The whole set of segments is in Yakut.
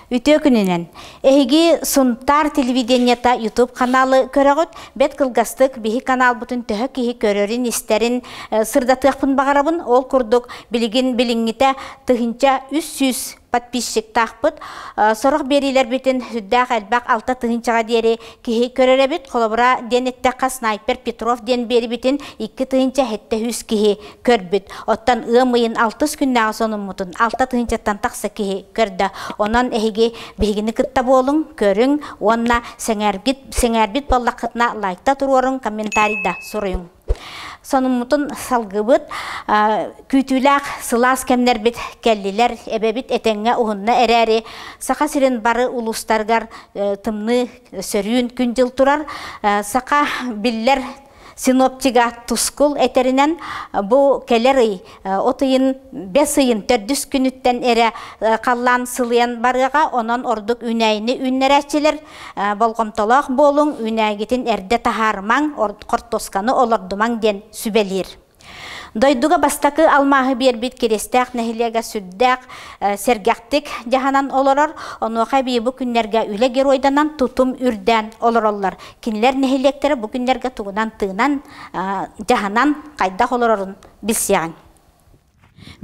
Үтүө күнүнэн! Эһиги Сунтаар телевидениета YouTube каналы көрөҕүт, бэт кылгастык биһи каналбытын төһө киһи көрөрүн-истэрин э, сырдатыахпын баҕарабын. Ол курдук билигин билиҥҥитэ тыһыынча үс сүүс подписчиктаахпыт. Сорох биэриилэрбитин сүрдээх элбэх алта тыһыынчаҕа диэри киһи көрөрөбүт. Холобура, диэн эттэххэ, снайпер Петров диэн биэрибитин икки тыһыынча сэттэ сүүс киһи көрбүт. Оттон ыам ыйын алтыс күннээҕи сонуммутун алта тыһыынчаттан тахса киһи көрдө. Онон эһиги биһигини кытта буолуҥ, көрүҥ уонна сэҥээрбит, сэҥээрбит буоллаххытына лайкта туруоруҥ, комментарий да суруйуҥ. Сонуммутун салгыбыт, күүтүүлээх сылаас кэмнэрбит кэллилэр, эбэбит этэҥҥэ уһунна эрээри, Саха сирин бары улуустарыгар тымныы сөрүүн күн-дьыл турар. Саха биллэр синоптига Тускул этэринэн, бу кэлэр ый От ыйын бэс ыйын төрдүс күнүттэн эрэ халлаан сылыйан барыаҕа, онон ордук үүнээйини үүннэрээччилэр болҕомтолоох буолуҥ, үүнээгитин эрдэ таһаарымаҥ, хортуосканы олордумаҥ диэн сүбэлиир. Дойдуга бастакы алмааһы биэрбит Киристээх нэһилиэгэ сүрдээх сэргэхтик дьаһанан олорор. Онуоха эбии бу күннэргэ үлэ геройданан тутум үрдээн олороллор. Кинилэр нэһилиэктэрэ бу күннэргэ тугунан тыынан, дьаһанан, хайдах олорорун билсиэҕиҥ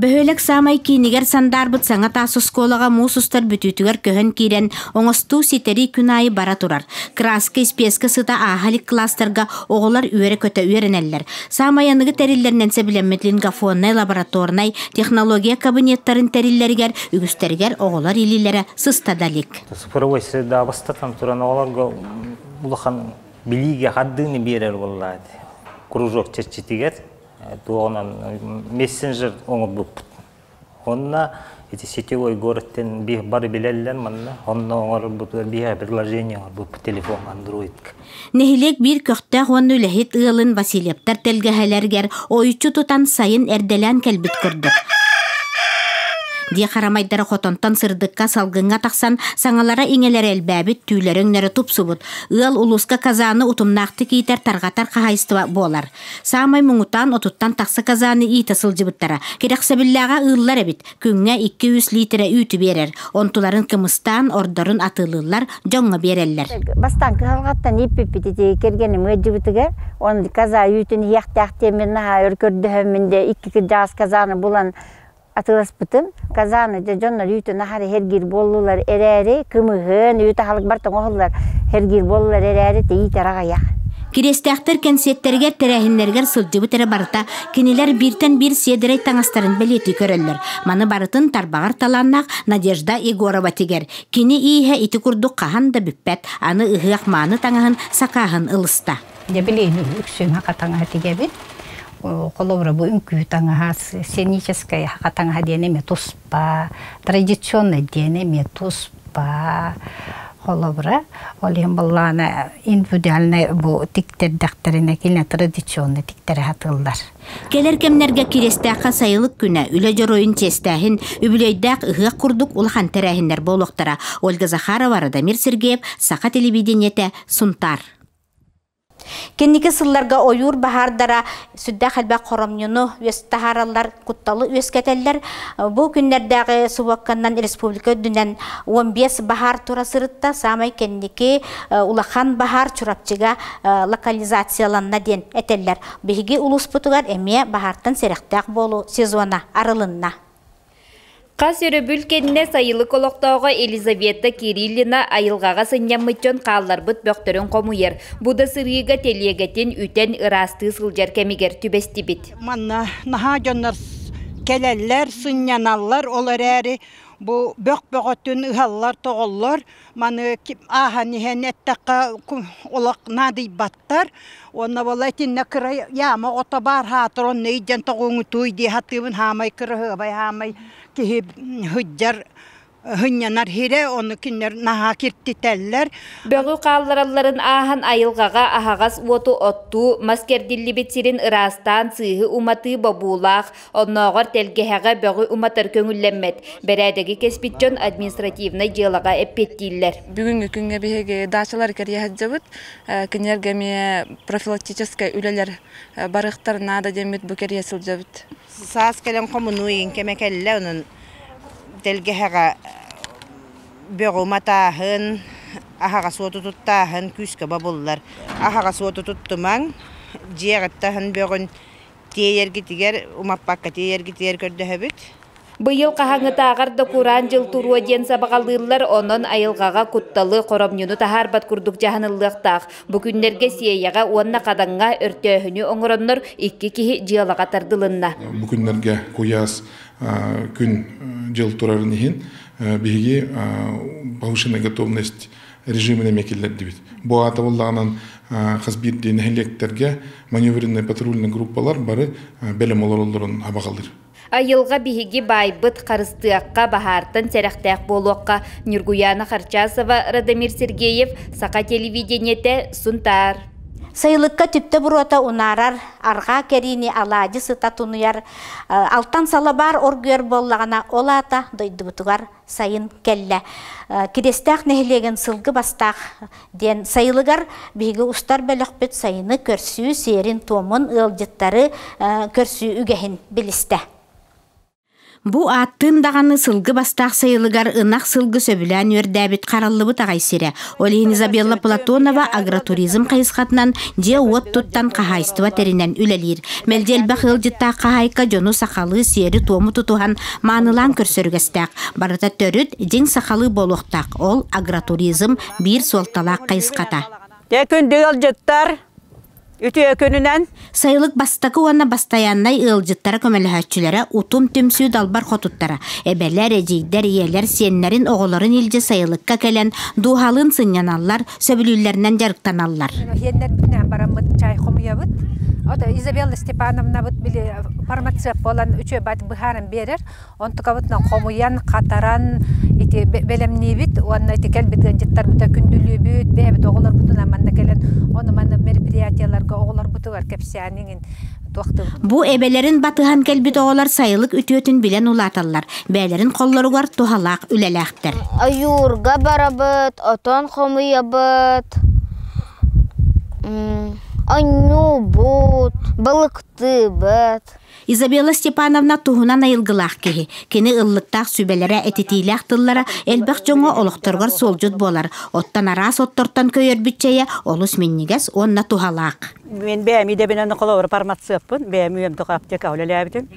бөһүөлэк саамай киинигэр сандаарбыт саҥа таас оскуолаҕа муус устар бүтүүтүгэр көһөн киирэн оҥостуу ситэрии күн аайы бара турар краска испиэскэ сыта ааһа илик класстарга оҕолор үөрэ-көтө үөрэнэллэр саамай аныгы тэриллэринэн сөбүлэммит лингофоннай лабораторнай технология кабинеттарын тэриллэригэр үгүстэригэр оҕолор илиилэрэ сыста да илик цифровой средаабыстартан туран оҕолорго улахан билиигэ хардыыны биэрэр буоллаат кружок чэрчитигэр туоҕунан мессенджер оҥорбуппут онно эти сетевой городтен бир бары билеллер манна онно оҥорбут бир предложение оҥорбуппут телефон андроидка нэһилиэк биир көхтөөх уонна үлэһит ыалын васильевтар тэлгэһэлэригэр ойуччу тутан сайын эрдэлээн кэлбит көрдүк дии харамайдара хотонтон сырдыкка салгыҥҥа тахсан саҥалара иҥэлэрэ элбээбит түүлэрэ өҥнөрө тупсубут ыал улууска казаны утумнаахтык иитэр тарҕатар хаһайыстыба буолар Саамай муҥутаан отуттан тахса казаны иитэ сылдьыбыттара. Кирэхсэбиллээҕэ ыыллар эбит. Күҥҥэ 200 лиитирэ үүтү биэрэр. Онтуларын кымыстаан, ордорун атыылыыллар, дьоҥҥо биэрэллэр. Бастаан кыһалҕаттан ииппиппит ити кэргэним ыалдьыбытыгар он каза үүтүн иһиэхтээх диэн мин наһаа өр көрдөһөммүн да икки кырдьаҕас казаны булан атыыласпытым казаны дьэ дьоннор үүтүн-аһары һэргиир буоллулар эрээри кымыһын үүт аһылыкбар тоҥоһуллар һэргиир буоллулар эрээри тэйиит арах айах Кириэстээхтэр кэнсиэттэригэр тэрээһиннэригэр сылдьыбыт эрэ барыта кинилэр бииртэн биир сиэдэрэй таҥастарын бэлиэтии көрөллөр. Маны барытын тарбаҕар талааннаах Надежда Егорова тигэр. Кини ииһэ ити курдук хаһан да бүппэт, аны ыһыах мааны таҥаһын сакааһын ылыста. Дьэ билигин үксүҥ хатаҥаһа тигэбит. Холобура бу үҥкүү таҥаһа, сценическая хатаҥаһа диэн эмиэ туспа, традиционнай диэн эмиэ туспа. Холобура, ол иһин былаана индивидуальнай бу тиктэрдэхтэринэ кини традиционнай тиктэрэ сатыыллар. Кэлэр кэмнэргэ Кириэстээххэ сайылык күнэ Үлэ дьоруойун чиэстээһин, үбүлүөйдээх ыһыах курдук улахан тэрээһиннэр буолуохтара. Ольга Захарова, Радомир Сергеев, Саха телевидениетэ, Сунтаар. Кэнники сылларга ойуур баһаардара сүрдээх элбэх хоромньуну үөстаһаралар, кутталы үөскэтэллэр. Бу күннэрдээҕи субуокканнан республика үрдүнэн он бес баһаар тура сырытта. Саамай кэнники улахан баһаар Чурапчыга локализацияланна диэн этэллэр. Биһиги улууспутугар эмиэ баһаартан сэрэхтээх буолуу сезона арылынна. Хас өрөбүл кэннэ сайылык олохтооҕо Елизавета Кириллина айылҕаҕа сынньаммыт дьон хаалларбыт бөхтөрүн хомуйар, бу да сырыыга тэлиэгэтин үтэн ыраастыы сылдьар кэмигэр түбэстибит. Манна наһаа дьоннор кэлэллэр, сынньаналлар, ол эрээри бу бөх бөҕөтүн ыһаллар, тоҕоллор. Маны ааһан иһэн эттэххэ, олох наадыйбат. Аттар уонна була итиннэ кыра яама ото баар хаатыр онно ыйдьан тоҕуоҥутуй дии хатыыбын хаамай кыраһыабай хаамай киһи һыддьар һынньанар хирэ ону кинилэр наһаа киртитэллэр Бөҕү хаалларалларын ааһан айылҕаҕа аһаҕас уоту оттуу, мас кэрдиллибит сирин ыраастаан сыыһы уматыы бобуулаах, Оннооҕор тэлгэһэҕэ бөҕү уматар көҥүллэммэт. Бэрээдэги кэспит дьон административнай дьыалаҕа эппиэттииллэр. Бүгүҥҥү күҥҥэ биһиги даачалары кэрийэ сылдьабыт. Кинилэргэ эмиэ профилактическай үлэлэр барыахтар наада диэммит бу кэрийэ сылдьабыт. Саас кэлэн хомунуу-иин кэмэ кэллэ, онон тэлгэһэҕэ бөҕү уматааһын, аһаҕас уоту туттааһын күүскэ бобуллар. Аһаҕас уоту туттумаҥ, дьиэ аҕыттаһын бөҕүн Тиэйэргитигэр, умаппакка тиэйэргитигэр көрдөһөбүт. Быйыл хаһааҥҥытааҕар да кураан дьыл туруо диэн сабаҕалыыллар, онон айылҕаҕа кутталы, хоромньуну таһаарбат курдук дьаһаныллыахтаах. Бу күннэргэ Сиэйэҕэ уонна Хадаҥҥа өртөөһүнү оҥороннор икки киһи дьыалаҕа тардылынна. Бу күннэргэ куйаас күн-дьыл турарын иһин биһиги повышенная готовность режимин эмиэ киллэрдибит. Бу аатабыллаҕынан хас биирдии нэһилиэктэргэ маневренная патрульная группалар бары бэлэм олороллорун абаҕалыыр. Айылга биһиги баайбыт харыстыахха, баһаартан сэрэхтээх буолуохха. Нюргуяна Харчасова, Радомир Сергеев, Саха телевидениете, Сунтаар. Сайылыкка түптэ буруота унаарар, арҕаа кэриини алаадьы сыта тунуйар, алтан салабаар оргуйар буоллаҕына, ол аата дойдубутугар сайын кэллэ. Кидэстээх нэһилиэгин сылгы бастаах диэн сайылыгар биһиги устар бөлөхпүт сайыны көрсүү сиэрин-туомун, ыалдьыттары көрсүү үгэһин билистэ. Бу ааттыын даҕаны сылгы бастаах сайылыгар ынах сылгы сөбүлээн үөрдээбит хараллыбыт аҕай сирэ. Олин Изабелла Платонова агротуризм хайысхатынан дьиэ-уот туттан хаһаайыстыба тэринэн үлэлиир. Мэлдьи элбэх ыалдьыттаах хаһаайка дьону сахалыы сиэри-туому тутуһан маанылаан көрсөрүгэстээх. Барыта төрүт, дьиҥ сахалыы буолуохтаах. Ол агротуризм биир суолталаах хайысхата. Те күндү ыалдьыттар, Үтүөкүнүнэн Сайылык бастакы уонна бастайааннай ыалдьыттара көмөлөһөөччүлэрэ Утум түмсүү далбар хотуттара, эбэлэр, эдьиийдэр, ийэлэр, сиэннэрин, оҕолорун илдьэ сайылыкка кэлэн дууһалыын сынньаналлар, сөбүлүүллэринэн дьарыктаналлар. Иһиэннэрбитинэн бараммыт чай хомуйабыт. Вот Изабелла Степановнабыт били фармацевт буолан үчүө бат быһааран биэрэр. Онтукабытынан хомуйан, хатаран ити бэлэмниибит уонна ити кэлбит ыалдьыттарбыта күндүлүүбүт, бэйэбит оҕолорбутунан манна кэлэн ону манна мероприятиеларга оҕолорбутугар кэпсээн иҥин туохтуубут. Бу эбэлэрин батыһан кэлбит оҕолор сайылык үтүөтүн билэн улааталлар, бэйэлэрин холлоругар туһалаах үлэлээхтэр. Ойуурга барабыт, отон хомуйабыт, онньуубут, балыктыыбыт. Изабелла Степановна туһунан айылгылаах киһи. Кини ыллыктаах сүбэлэрэ, этитиилээх тыллара элбэх дьоҥҥо олохторугар суолдьут буолар. Оттон араас оттортон көйөрбүт чэйэ олус минньигэс уонна туһалаах. Мен бэйэми дэбинэн холобур фармацевпын, бэйэми өмдөх аптека үлэлээбитим.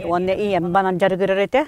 Уонна ийэм банан дьарыгырар этэ.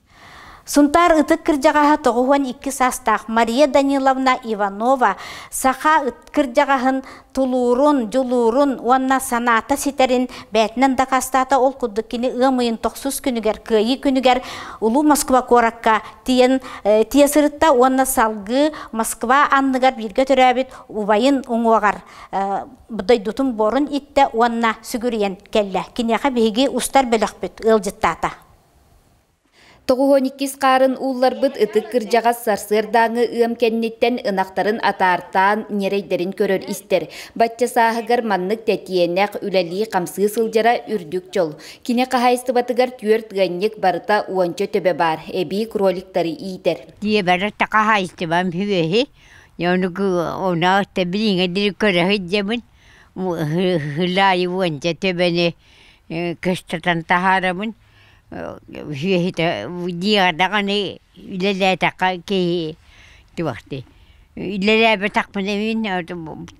Сунтаар ытык кырдьаҕаһа тоҕус уон икки саастаах Мария Даниловна Иванова саха кырдьаҕаһын тулуурун, дьулуурун уонна санаата ситэрин бэйэтинэн дакаастаата ол курдук кини ыам ыйын тохсус күнүгэр кыайыы күнүгэр Улуу Москва куоракка тиийэн э, тиийэ сырытта уонна салгыы Москва анныгар бииргэ төрөөбүт убайын уҥуоҕар э, дойдутун буорун иттэ уонна сүгүрүйэн кэллэ киниэхэ биһиги устар бөлөхпүт ыалдьыттаата Тоҕуһун иккис хаарын уулларбыт ытык кырдьаҕас сарсыардааҥы ыам кэнниттэн ынахтарын атаартаан ньирэйдэрин көрөр-истэр. Бачча сааһыгар маннык тэтиэнэх, үлэлии-хамсыы сылдьара үрдүк дьол. Кини хаһаайыстыбатыгар түөрт ыанньык барыта уонча төбө баар, эбии кроликтары иитэр. Диэбэрэ хаһаайыстыбам үһү. Оны билиҥэ дири көрөһүт дьэбин хылаайы уонча төбөнү көстөтөн таһаарабын сүөһүтэ диэҕэни үлэлээтэххэ киһи туохтуй үлэлээбэтэхпинэ мин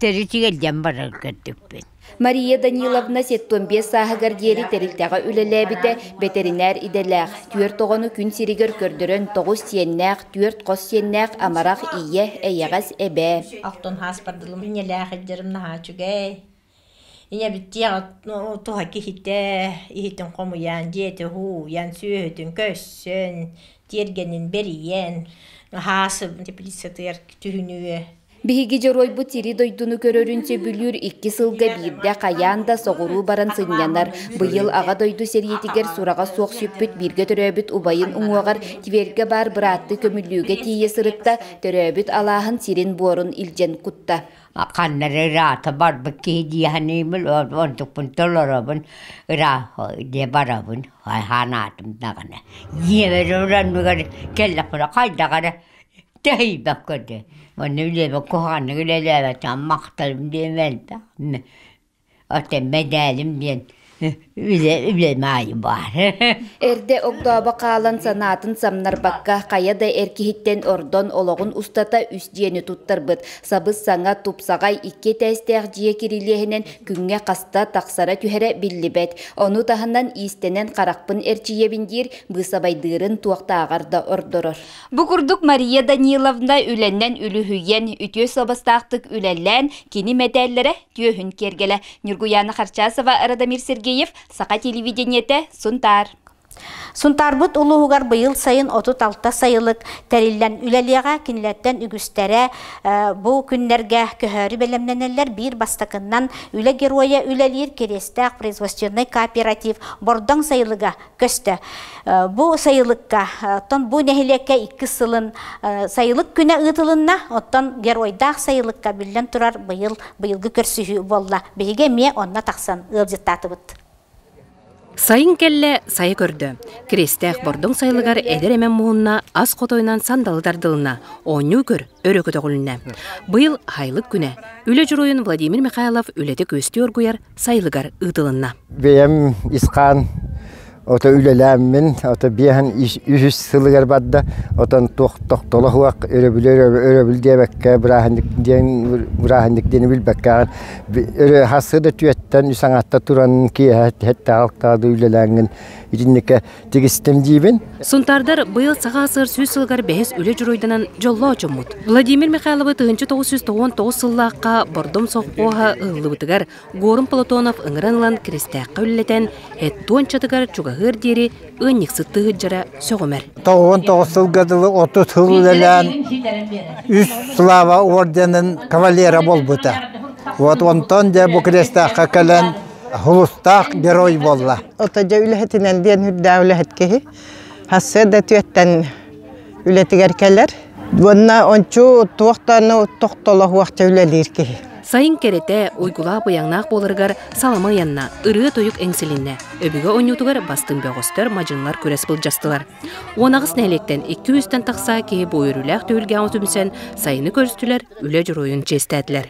төрүт тигэлдьэн барар көрдүкпүн Мария Даниловна сэттуон биэс сааһыгар диэри тэрилтэҕэ үлэлээбитэ бэтэринээр идэлээх түөрт оҕону күн сиригэр көрдөрөн тоҕус сиэннээх түөрт хос сиэннээх амарах ийэ эйэҕэс эбээ ахтан хааспардылым иннэлээх ildерым наһаа үчүгэй Ийэбиттиэх туһа киһитэ иһитин хомуйан, дьиэтэ уһууйан, сүөһүтүн көрсөн, тиэргэнин бэрийэн, аһаа сытыар түһүнүө. Биһиги дьоруойбут сири-дойдуну көрөрүн сөбүлүүр икки сылга биирдэ хайаан да соҕуруу баран сынньанар. Быйыл Аҕа дойду сэриитигэр сураҕа суох сүппүт бииргэ төрөөбүт убайын уҥуоҕар Тверьгэ баар бырааттыы көмүллүүгэ тиийэ сырытта, төрөөбүт алааһын сирин-буорун илдьэн кутта. ханна эрэ ыраата барбыт киһи дии саныыбын онтукпун толоробун ыраах диэ барабын санаатым даҕаны дьиэбэр олороннугар кэллэхпинэ хайдах эрэ тэһийбэккэ дии онно илиэбэр куһаҕаннык үлэлээбэтэҕим махталым диэмээн да Отеммай дэälим диэн үлэ үлэм аайы баар Эрдэ огдообо хаалан санаатын самнарбакка хайа да эр киһиттэн ордон олоҕун устата үс дьиэни туттарбыт сабыс-саҥа тупсаҕай икки этээстээх дьиэ кирилиэһинэн күҥҥэ хаста тахсара түһэрэ биллибэт ону таһынан иистэнэн харахпын эрчийэбин диир быысабайдыырын туохтааҕар да ордорор Бу курдук Мария Даниловна үлэнэн үлүһүйэн үтүө суобастаахтык үлэлээн кини мэтээллэрэ түөһүн киэргэлэ Ньургуяна Харчасова, Радомир Сергеев, Саха телевидениете, Сунтаар. Сунтаарбыт улууһугар быйыл сайын отут алта сайылык тэриллэн үлэлиэҕэ. Кинилэртэн үгүстэрэ бу күннэргэ көһөөрү бэлэмнэнэллэр. Биир бастакыннан Үлэ геройа үлэлиир Кириэстээх производственнай кооператив Бордоҥ сайылыга көстө. Бу сайылыкка, оттон бу нэһилиэккэ иккис сылын сайылык күнэ ыытылынна, оттон геройдаах сайылыкка биллэн турар быйыл быйылгы көрсүһүү буолла. Биһиги эмиэ онно тахсан ыалдьыттаатыбыт. Сайын кэллэ сайы көрдө. Кирестээх Бордоҥ сайылыгар эдэр эмэн муһунна ас хотойунан сандалы тардылынна, оонньуу көр өрө көтөҕүлүннэ. Быйыл Хайлык күнэ. Үлэ дьоруойун Владимир Михайлов үлэти күөстүү оргуйар сайылыгар ыытылынна. Бэйэм исхаан ото үлэлээммин, ото биэһэн үһүс сылыгар барда, отон тохтолоһуах өрөбүл диэбэккэ бырааһынньык диэн бырааһынньык диэни билбэккэ өрө хассы да түөттэн үс аҥаатта туран киэһэ һэттээҕалктаҕа да үлэлээҥҥин итинникэ тигистим диибин. Сунтаардар быйыл саха сыр сүүс сылыгар бэһис үлэ дьоруойданан дьоллоох дьоммут. Владимир Михайловы тыһынча тоҕус жүз тоҕуон сыллаахха Бордом совхоһа ыһыллыбытыгар Горун Платонов ыҥыран ылан Киристээххэ үллэтэн, Хеттуончатыгар чугаһыар диэри ыанньыксыт тыһыджара сөҕүмэр. Тоҕуон тоҕус сылга дылы отут сыл үлэлээн үс слава орденын кавалера буолбута. Вот онтон дьэ бу Киристээххэ кэлэн Хулустаах герой буолла. Ото дьэ үлэһитинэн диэн үрдээх үлэһит киһи. Сарсыарда түөттэн үлэтигэр кэлэр. Уонна ончу туох да тохтолоһуохча үлэлиир киһи. Сайын кэрэтэ, уйгулаах быйаҥнаах буоларыгар салама ыйанна, ырыа тойук эҥсилиннэ, өбүгэ онньуутугар бастыҥ бөҕөстөр, мадьынлар күрэс былдьастылар. Уонаҕыс нэһилиэктэн икки үстэн тахса киһи бу үөрүүлээх түһүлгэҕэ түмсэн, сайыны көрүстүлэр, үлэ дьоруойун чиэстээтилэр.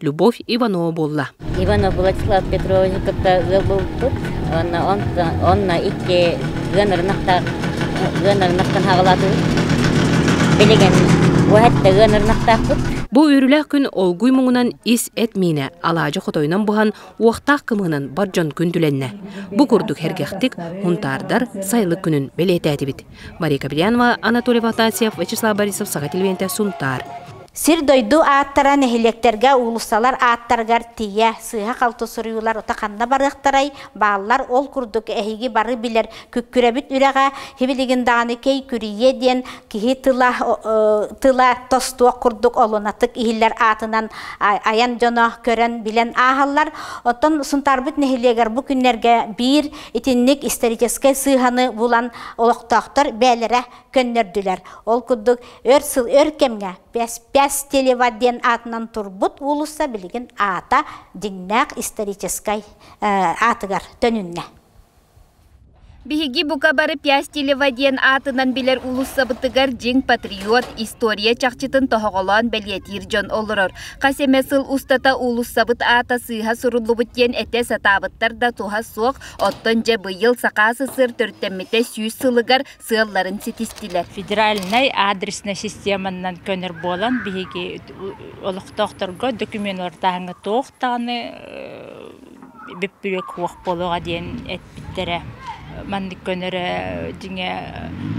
Любовь Иванова буолла. Иванов Владислав Петровичу кытта ыал булбут. Онно онно икки ыан ырынактаах ыан ырынактан хаҕалаатыбыт. Билигин бу хэтте ыан ырынактаахпыт. Бу үөрүүлээх күн олгуй муҥунан ис эт миинэ алаадьы хотойунан буһан уохтаах кымыһынан бар дьон күн түлэннэ. Бу курдук эргэхтик хунтаардар сайлык күнүн бэлиэтээтибит. Мария Каприянова, Анатолий Афанасьев, Вячеслав Борисов саха телевиденте Сунтаар. Сир-дойду ааттара нэһилиэктэргэ, уулуссалар ааттарыгар тиийэ, сыыһа-халты суруйуулар ута ханна барыахтарай, бааллар ол курдук эһиги бары билэр күккүрэбит үрэҕэ хибилигин даҕаны кэй күрийиэ диэн киһи тыла тыла тостуох курдук олунатык иһиллэр аатынан айан дьоно көрөн билэн ааһаллар. Оттон Сунтаарбыт нэһилиэгэр бу күннэргэ биир итинник историческай сыыһаны булан олохтоохтор бээлэрэ көннөрдүлэр. Ол курдук өр сыл өр кэмҥэ Пяспяс телева диэн аатынан турбут уулусса билигин аата дьиҥнээх историческай аатыгар төнүннэ. Биһиги бука бары Пястилева диэн аатынан билэр уулуссабытыгар дьиҥ патриот, история чахчытын тоһоҕолоон бэлиэтиир дьон олорор. Хас эмэ сыл устата уулуссабыт аата сыыһа суруллубут диэн этэ сатаабыттар да туһа суох, оттон дьэ быйыл Саха СССР төрүттэммитэ сүүс сылыгар сыалларын ситистилэр. Федеральнай аадреснай системаннан көнөр буолан, биһиги олохтоохторго документ уортааһыҥҥа туох даҕаны бүппүрүөк суох буолуоҕа диэн эппиттэрэ. Маннык көнөрө дьиҥэ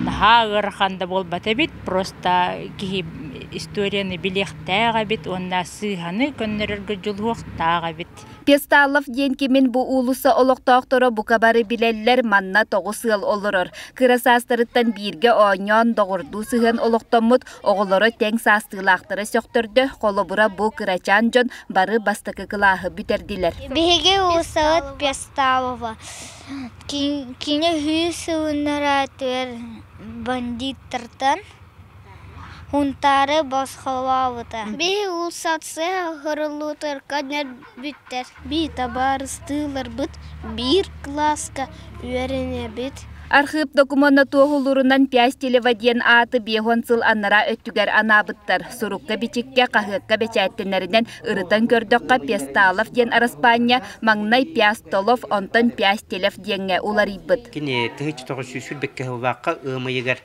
наһаа ыарахан да буолбат эбит, просто киһи историяны билиэхтээх эбит уонна сыыһаны көннөрөргө дьулуһуохтаах эбит. Песталов диэн кимин бу уулусса олохтоохторо бука бары билэллэр, манна тоҕус ыал олорор. Кыра саастарыттан бииргэ оонньоон, доҕордуу сыһыан олохтоммут, оҕолоро тэҥ саастыылаахтара сөхтөрдө, холобура бу кырачаан дьон бары бастакы кылааһы бүтэрдилэр. Биһиги уулуссабыт Песталова кини сылынар аатыгар бандиттартан Унтаары босхолообута Бии уулуссация оһоруллуутугар көрдөрбүттэр Бии табаарыстыыларбыт биир кылааска үөрэнэбит Архыып докумуона туоһулуурунан Пястилева диэн ааты биэс уон сыл аннараа өттүгэр анаабыттар Сурукка-бичиккэ, хаһыакка бэчээттэнэринэн ырытан көрдөххө Песталов диэн араспаанньа маҥнай Пястолов, онтон Пястилев диэҥҥэ уларыйбыт Кини тыһыынча тоҕус сүүс сүүрбэкка сыллаахха ыам ыйыгар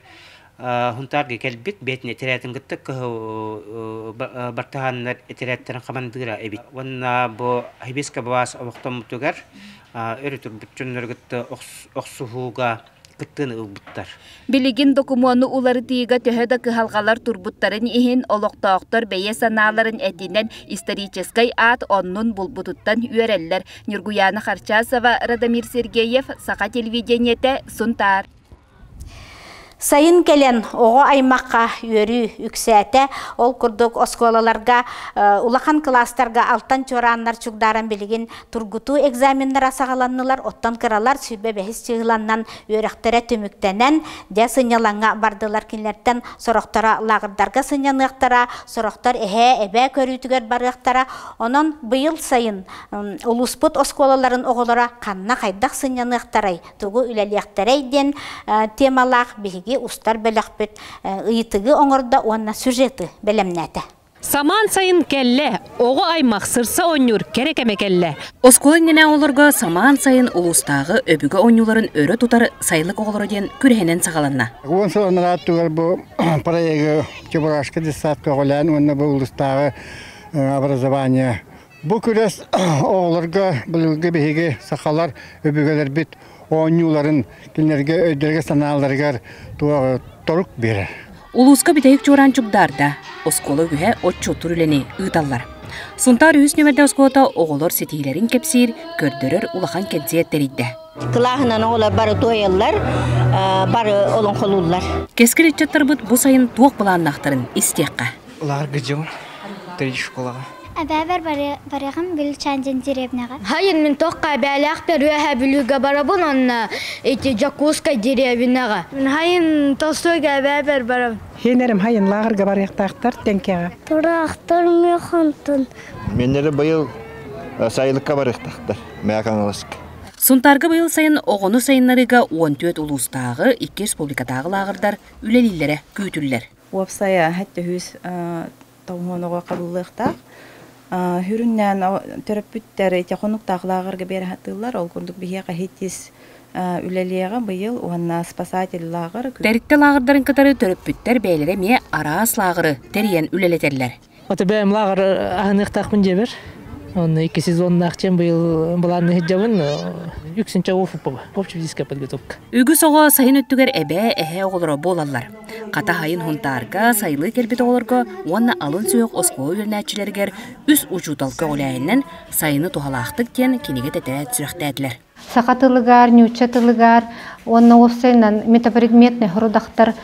Хунтаарга кэлбит, бээтин этэрээтин кытта кыһыл бартаһааннар этэрээттэрин хамандыыра эбит. Уонна бу хибиска баас олохтоммутугар өрө турбут дьоннору кытта охсуһууга кыттыыны ылбыттар. Билигин докумуону уларытыыга төһө да кыһалҕалар турбуттарын иһин, олохтоохтор бэйэ санааларын этинэн историческай аат оннун булбутуттан үөрэллэр. Ньургуяна Харчасова, Радомир Сергеев, Саха телевидениете, Сунтаар. Сайын кэлэн оҕо аймахха үөрүү үксээтэ. Ол курдук оскуолаларга улахан кылаастарга алтан чуорааннар чугдааран билигин тургутуу экзаменнара саҕаланнылар. Оттон кыралар сүүрбэ бэһис чыһыланнан үөрэхтэрэ түмүктэнэн, дьэ сынньалаҥҥа бардылар. Кинилэртэн сорохторо лааҕырдарга сынньаныахтара, сорохтор эһээ, эбээ көрүүтүгэр барыахтара. Онон быйыл сайын улууспут оскуолаларын оҕолоро ханна хайдах сынньаныахтарай тугу үлэлиэхтэрэй диэн темалаах биһиги устар бөлөхпүт ыйытыгы оҥордо уонна сюжеты бэлэмнээтэ. Самаан сайын кэллэ, оҕо аймах сырса оонньуур кэрэ кэмэ кэллэ. Оскуола иннинэ оҕолорго самаан сайын улуустааҕы өбүгэ оонньууларын өрө тутар Сайылык оҕолоро диэн күрэһинэн саҕаланна. Уон сыл анараа өттүгэр бу проегы Чебурашка детсадка оҕолээн уонна бу улуустааҕы образование Бу күрэс оҕолорго былыргы биһиги сахалар өбүгэлэрбит оонньууларын кинилэргэ өйдөрүгэр-санааларыгар торук биэрэр. Улууска бүтэһик чуораан чугдаарда. Оскуола үһэ отчуоттуур үлэни ыыталлар. Сунтаар үһүс нүөмэрдэ оскуолата оҕолор ситиһиилэрин кэпсиир, көрдөрөр улахан кэнсиэр тэрийдэ. Кылааһынан оҕолор бары туойаллар, бары олоҥхолууллар. Кэскил ыччаттарбыт бу сайын туох былааннаахтарын истиэххэ. Ларгыдьым, три школаҕа. Эбэбэр барыгым Гүлчаан деревняҕа. Хайын мин тохха эбээлээхпэр үөһэ бүлүүгэ барабын онно ити Дьокуускай деревняҕа. Хайын Толстойга эбэбэр барабын. Хенэрим хайын лааҕырга барыахтаахтар тэҥкэҕэ. Тураахтар механтын. Меннері быйыл сайылыкка барыахтаахтар Мээкаҥаласка. Сунтаарга быйыл сайын оҕону сайыннарыыга уон түөрт улуустааҕы, икки республикатааҕы лааҕырдар үлэлииллэрэ күүтүллэр. Уопсайа төһүүс тоҥуон оҕо хабыллыахтаах. Хүрүннээн төрөппүттэр ити хонуктаах лааҕырга биэрэхатыыллар. Ол курдук биһиэхэ ХИТИС үлэлиэҕэ быйыл уонна спасатель лааҕыр. Тэрилтэ лааҕырдарын кытары төрөппүттэр бэйэлэрэ эмиэ араас лааҕыры тэрийэн үлэлэтэллэр. Ото бэйэм лааҕыр аһыныахтаахпын дьэбэр. Онно икки сезоннаах чем быйыл былаанны сылдьабын. Үксүнчэ опыппаба. Общевизиская подготовка. Үгүс оҕо сайын өттүгэр эбээ, эһээ оҕолоро буолаллар. Хата сайын хунтаарга сайылыы кэлбит оҕолорго уонна алын сүһүөх оскуола үөрэнээччилэригэр үс учууталка үлэһиннэн сайыны туһалаахтык диэн кинигэ тэтэрээт сүрэхтээтилэр. саха тылыгар, ньуучча тылыгар уонна уопсайынан метапредметный родахтар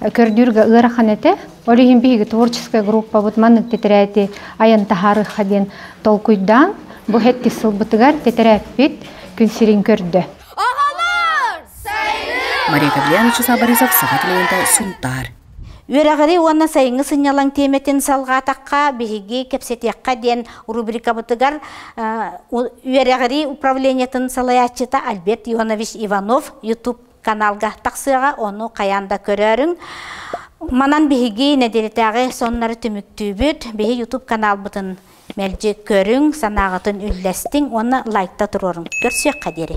көрдүүргэ ыарахан этэ. Ол иһин биһиги творческая группабыт маннык тэтэрээти айан таһаарыха диэн толкуйдаан бу хэттис сылбытыгар тэтэрээппит күн сирин көрдө. Мария Гавлианович Сабаризов саха телевидения Сунтаар Үөрэҕири уонна сайыҥҥы сынньалаҥ тиэмэтин салҕаатахха, биһиги кэпсэтиэххэ диэн рубрикабытыгар үөрэҕирии управлениетын салайааччыта Альберт Ионович Иванов YouTube каналга тахсыаҕа, ону хайаан да көрөөрүҥ. Манан биһиги нэдиэлэтээҕи соннору түмүктүүбүт. Биһи YouTube каналбытын мэлдьи көрүҥ, санааҕытын үллэстиҥ уонна лайкта туруоруҥ. Көрсүөххэ диэри.